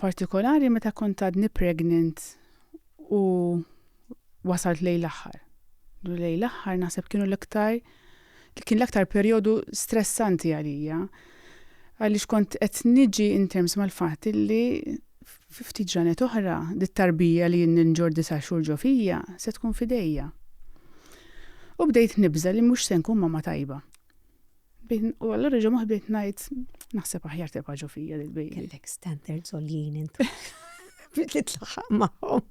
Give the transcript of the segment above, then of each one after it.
partikolari meta kont għadni pregnant u wasalt lejn l-aħħar. Lejn l-aħħar naħseb kienu l-iktar li kien l-aktar perjodu stressanti għalija għaliex kont qed niġi in terms mal-fatt li fifti ġranet oħra dit-tarbija li jien ninġor disa' xhur ġo fija se tkun fidejja. U bdejt nibża li mhux se nkun ma tajba. Bin, u għallura ġo maħbit najt, naħseb aħjar tibqa ġo fija l baby Kellek standard zoljien intu. Bit li tlaħħaq maħom.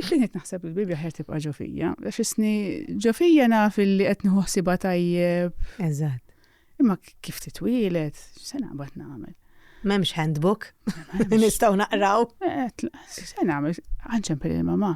Binet naħseb l baby aħjar tibqa ġo fija. Fisni ġo fija naf li qed nħossibha tajjeb. Eżatt. Imma kif titwilet, se naqbad nagħmel. M'hemmx handbook. Nistgħu naqraw. Eh, se nagħmel, għanċempel il-mama.